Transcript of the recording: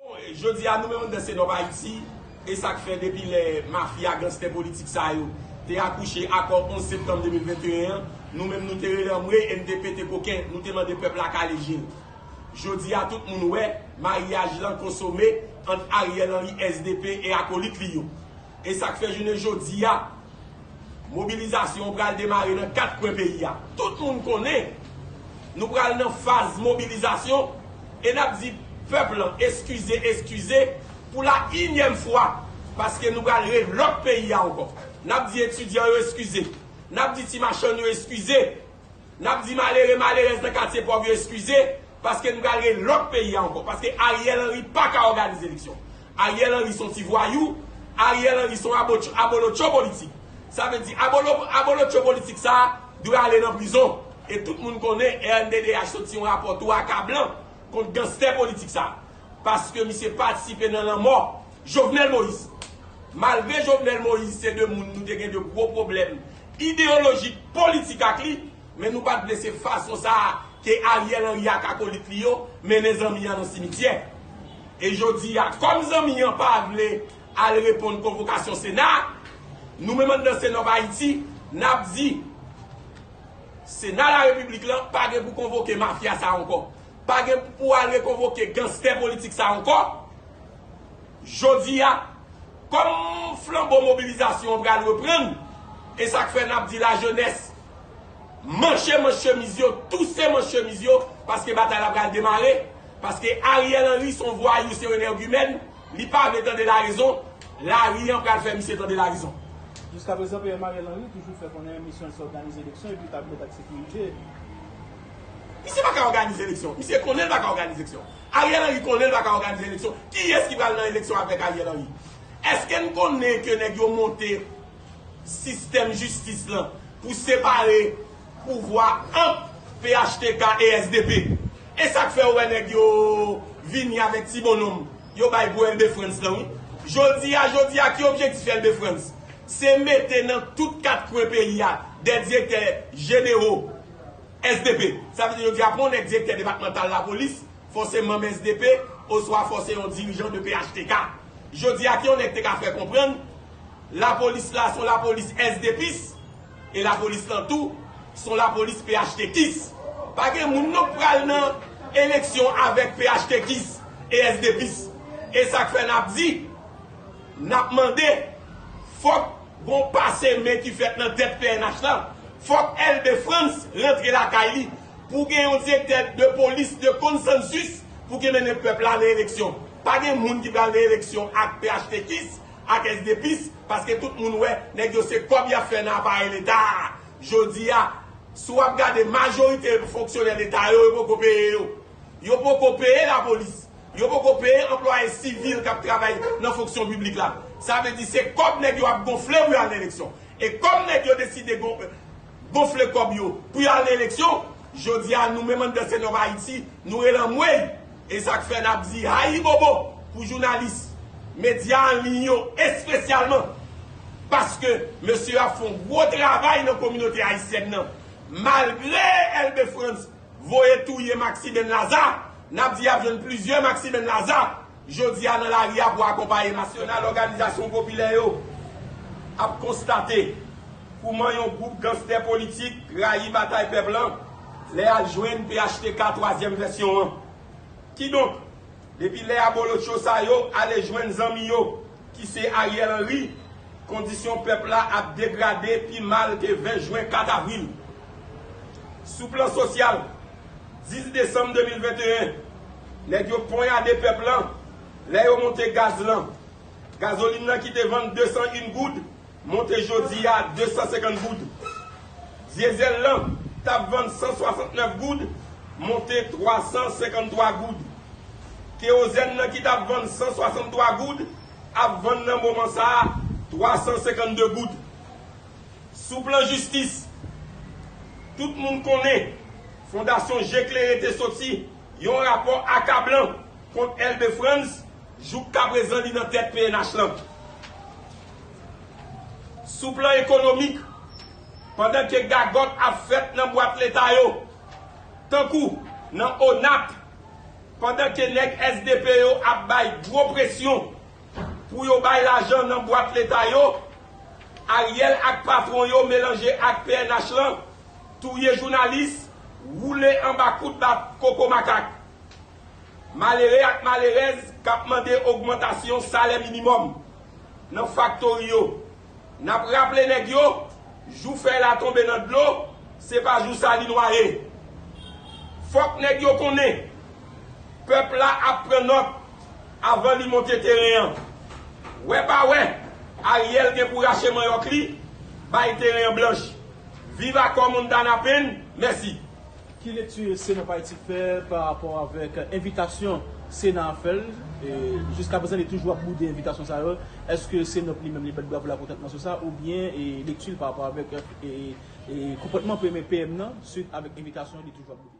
Bon, jodi a nou menm anndan Senop Ayiti, e sa k fè depi lè mafya ganstè politik sa yo te akouche akò 11 septanm 2021 an, nou menm nou te rele anmwey e n te pete koken, nou te mande pèp la kale je l. Jodi a tout moun wè, maryaj lan konsome ant Ariel Henry, SDP e akolit li yo. E sa k fè jounen jodi a, Mobilizasyon an pral demare nan 4 kwen peyi a. Tout moun konnen nou pral nan faz mobilizasyon e n ap di pèp lan eskize eskize pou la inyèm fwa paske nou pral re lòk peyi a ankò. N ap di etidyan yo eskize. N ap di ti machann yo eskize. N ap di malere malerèz nan katye pòv yo eskize paske n pral gen lòt peyi a ankò paske Ariel Henry pa ka òganize eleksyon. Ariel Henry s on ti vwayou, Ariel Henry s on abolotcho politik. Sa vle di abolotcho politik sa a dwe ale nan prizon e tout moun konnen rnddh soti yon rapò tou akablan kont ganstè politik sa a paske misye patisipe nan lanmò Jovenel Moïse. Malgre Jovenel Moïse se de moun nou te gen de gwo pwoblèm ideyolojik, politik ak li, men nou pat vle se fason sa a ke Ariel Henry ak akolit li yo mennen zanmi an nan simityè. E jodi a, kòm zanmi an pa vle al reponn konvokasyon Sena, nou menm anndan Cenov-Haiti, n ap di, Sena Larepiblik lan pa gen pou konvoke mafya sa a ankò, pa gen pou al rekonvoke ganstè politik sa a ankò, Jodi a, kòm flanbo mobilizasyon an pral reprann, e sa k fè n ap di lajenès, manche manch chemiz yo, touse manch chemiz yo, paske batay la pral demare, paske Ariel Henry s on vwayou, se yon enègimèn, li pa vle tande larezon, lari an pral fè misye tande larezon. Jiskaprezan PM Ariel Henry toujou fè konnen misyon l se òganize eleksyon epi tabli lòd ak sekirite. Misye pa ka òganize eleksyon. Misye konnen l pa ka òganize eleksyon. Ariel Henry konnen l pa ka òganize eleksyon. Kiyès ki pral nan eleksyon avèk Ariel Henry? Eske n konnen ke nèg yo monte sistèm jistis lan pou separe pouvwa ant phtk e sdp? E sa k fè ou wè nèg yo vini avèk ti bonnonm yo bay pou Elbe Frantz lan wi? Jodi a jodi a ki objektif Elbe Frantz? Se mete nan tout kat kwen peyi a dè direktè jenero. SDP, Sa vle di yo di apre yon nèg direktè depatmantal lapolis, fò se manm SDP, oswa fò se yon dirijan de phtk. Jodi a ki yon nèg te ka fè konprann, lapolis la son lapolis SDPis, e lapolis lan tou son lapolis phtkis. Pa gen moun non k pral nan eleksyon avèk phtkis e SDPis. E sa k fè n ap di, n ap mande, fòk. Gon pase men ki fèt nan tèt pnh la, fòk Elbe Frantz rantre lakay li, pou gen yon direktè de polis de konsansus pou ki mennen pèp la nan eleksyon. Pa gen moun ki pral nan eleksyon ak phtkis ak esdepis paske tout moun wè nèg yo se kòb yap fè nan aparèy leta a. Jodi a, si wap gade majorite fonksyonè leta yo, yo poko peye yo. Yo poko peye lapolis. Yo poko peye anplwaye sivil k ap travay nan fonksyon piblik la. Sa vle di se kòb nèg yo ap gonfle pou y al nan eleksyon. E kòm nèg yo deside gonfle kòb yo pou y al nan eleksyon, jodi a nou menm anndan Senov Ayiti, nou rele anmwey! E sa k fè n ap di ayibobo pou jounalis medya an liy yo espesyalman paske mesye yo ap fè yon gwo travay nan kominote ayisyèn nan malgre Elbe Frantz Voye touye Maxiben Laza! Nap di yap jwenn plizyè Maxiben Laza jodi a nan lari a pou akonpaye Nasyonal Òganizasyon Popilè yo ap konstate kouman yon gwoup ganstè politik rayi batay pèp lan lè yal jwenn phtk twazyèm vèsyon an. Kidonk, depi lè abolotcho sa yo ale jwenn zanmi yo ki se Ariel Henry, kondisyon pèp la ap degrade pi mal ke 20 jwen 4 avril. Sou plan sosyal, 10 desanm 2021, nèg yo ponyade pèp lan lè yo monte gaz lan. Gazolin lan ki te vann 201 goud, Monte jodi a 250 goud. Diesel lan t ap vann 169 goud, monte 353 goud. Kewozenn lan ki t ap vann 163 goud, ap vann nan moman sa a 352 goud. Sou plan jistis, tout moun konnen Fondasyon Je Klere te soti yon rapò akablan kont Elbe Frantz, jouk kaprezan li nan tèt pnh lan. Sou plan ekonomik, pandan ke gagòt ap fèt nan bwat leta yo, tankou nan ONAP, pandan ke nèg sdp yo ap bay gwo presyon pou yo bay lajan nan bwat leta yo, Ariel ak patwon yo melanje ak pnh lan, touye jounalis, woule anba kout bat koko makak malere ak malerèz kap mande ogmantasyon salè minimòm. nan faktori yo. N ap raple nèg yo, jou fèy la tonbe nan dlo, se pa jou sa li nwaye. Fòk nèg yo konnen, pèp la ap pran nòt avan li monte teren an. Wè pa wè, Ariel gen pou rache manyòk li, bay teren an blanch. Viv Akò Montana Pen, mèsi. Ki lekti sena pa Ayiti fè pa rapò avèk envitasyon sena a fè l? Jiskaprezan li toujou ap boude envitasyon sa yo. Eske senop li menm li bat bravo l akontantman sou sa oubyen lekti l pa rapò avèk konpòtman premye PM nan suit avèk envitasyon li toujou ap boude?